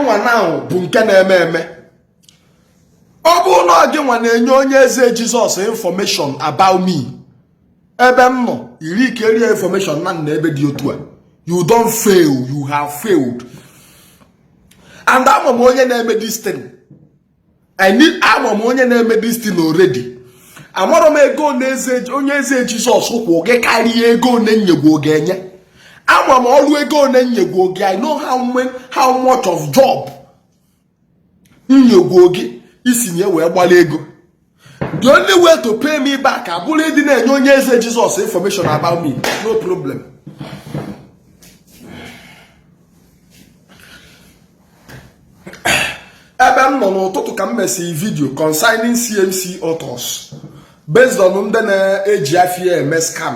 nwa na bụ nke na-eme eme ọ bụ na ọ gị nwa na-enye onye eze Jesus information about me ebe m nọ iri ike rie information na m nọ ebe dị otu a you don fail you have failed and ama m onye na-eme this thing ama m onye na-eme this thing already amarọ m ego onye eze Jesus kwụ gị karịa ego one m nyegwo gị enye ama m ọrụ ego one m nyegwo gị i know how much of job m nyegwo gị i si na ya wee gbara ego the only way to pay me back abụrụ ịdị na-enye onye eze Jesus information about me no problem ebe m nọ n'ụtụtụ ka m mesịrị video concerning CMC autos based on ndị na-eji afa ya eme scam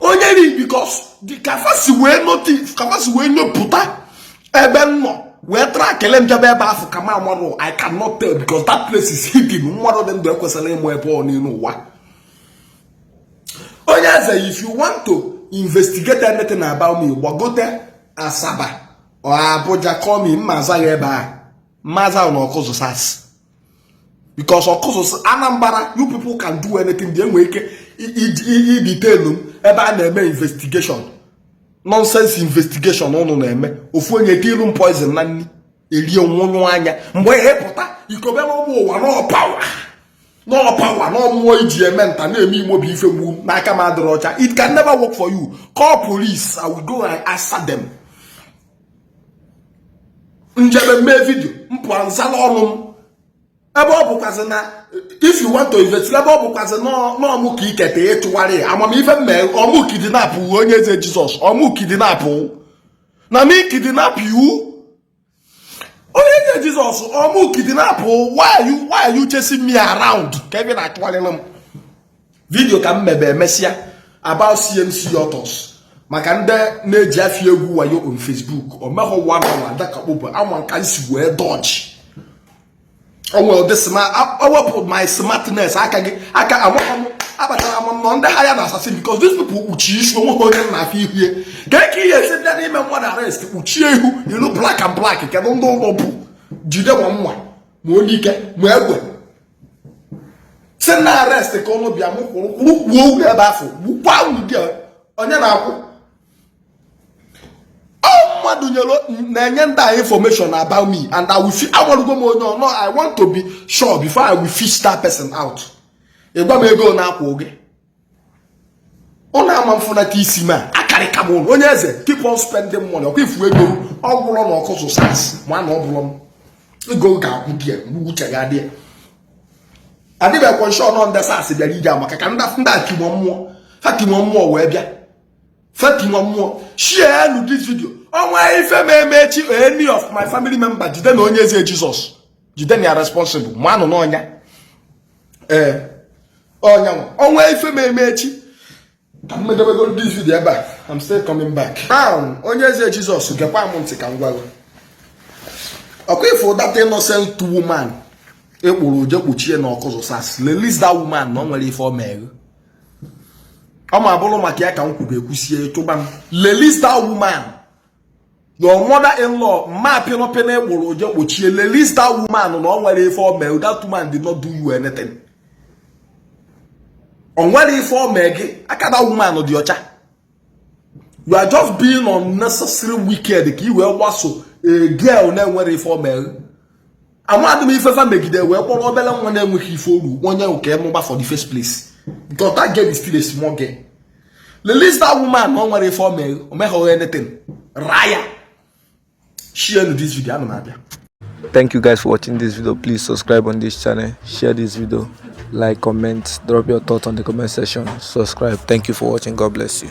onye ri because ka fa si wee notif ka fa si wee nyopụta ebe m nọ wee track na m jebe ebe afụ ka m amarọ i cannot tell because that place is hidden mmadụ dị ndụ ekwesịrọ ịma ebe ọ n'elu ụwa onye eze if you want to investigate anything about me gbagote Asaba or Abuja call me mma aza ya ebe a mma aza na Ọkụzụ SARS because ọkụzụ Anambra you people can do anything dị enwe ike idetain m ebe a na-eme investigation nonsense investigation ụnụ na-eme ofu onye tilu m poison na nri erie nwụnyụ anya mgbe ihe pụta ịkọbara ụmụ ụwa na ọ power na ọ power na ọ mmụọ i ji eme nta na-eme imo bụ ife gbu m n'aka m adịrọ ọcha it can never work for you call police i will go and answer them m jebe mee video m pụa m zala ọnụ m ebe ọ bụkwazị na if you want to invest ebe ọ bụkwazị na ọ mụ ka iketa ịchụwarị ama m ife m me ọ mụ kidnap onye eze Jesus ọ mụ kidnap na me kidnap you onye eze Jesus ọ mụ kidnap why are you chasing me around kee ife ị na-achụwarịrị m video ka m mebe emesịa about CMC autos maka ndị na-eji afa ya egwu wayo on Facebook o mehọ one hour adakakpo bụ anwa ka m si wee dodge onwe ụdị wepụ my smartness aka gị aka amaghị m akpatara m nọ ndị hired assassin because these people kpuchie isi onwe ha onye na-afụ ihu ya ka eke ihe esi bịa n'ime mmadụ arrest kpuchie ihu yili black and black kedụ ndị ụnụ bụ jide nwa nwa ma onyike ma egbe sị na arrest ka ụnụ bịa mụ kwụrụ kwụrụ kwuo ugwu ebe afụ gbukwa ụdị onye na-akwụ mmadụ nyere na-enye ndị a information about me and I will amarugo m onye ọnọ I want to be sure before I will fish that person out ị gwa m ego ọ na-akwụ gị ọ na-ama mfụnata isi m akarịka m onye eze keep on spending money ọkwa ifu ego ọ gwụrọ na Awkuzu SARS ma na ọ bụrụ m ego ga-agwụ gị uche ya dị adịbekwa m sure na ndị SARS bịara ije maka ka ndị ndị atimọ mmụọ fatimọ mmụọ wee bịa fatimọ mmụọ share this video o nwee ife mee m echi any of my family member jidenụ onye eze jizọs jidenụ ya responsible manụ n'ọ nya ee ọ nya o nwee ife mee m echi ka m medebego this video ebe a I'm still coming back ahụ onye eze Jizọs gekwa m ntị ka m gwa gị ọkwa ifu that innocent woman ị kpọrọ je kpọchie na Awkuzu SARS release that woman na o nwerọ ife o mere ọ ma bụrụ maka ya ka m kwube ekwusie chụba m release that woman your mother in law ma pịnọpịnọ ị kpọrọ je kpọchie release that woman na o nwerọ ife o mee that woman did not do you anything o nwerọ ife o mee gị aka that woman dị ọcha you are just being unnecessary wicked ka i wee gbaso a girl na-enwerọ ife o mee amadị m ife fa megide wee kpọrọ obere nwa na-enweghị ife o ru nye gị ka ị nụba for the first place because that girl is still a small girl release that woman na o nwerọ ife o mee gị anything raa ya share this video ana m abịa thank you guys for watching this video please subscribe on this channel share this video like comment drop your thoughts on the comment section subscribe thank you for watching god bless you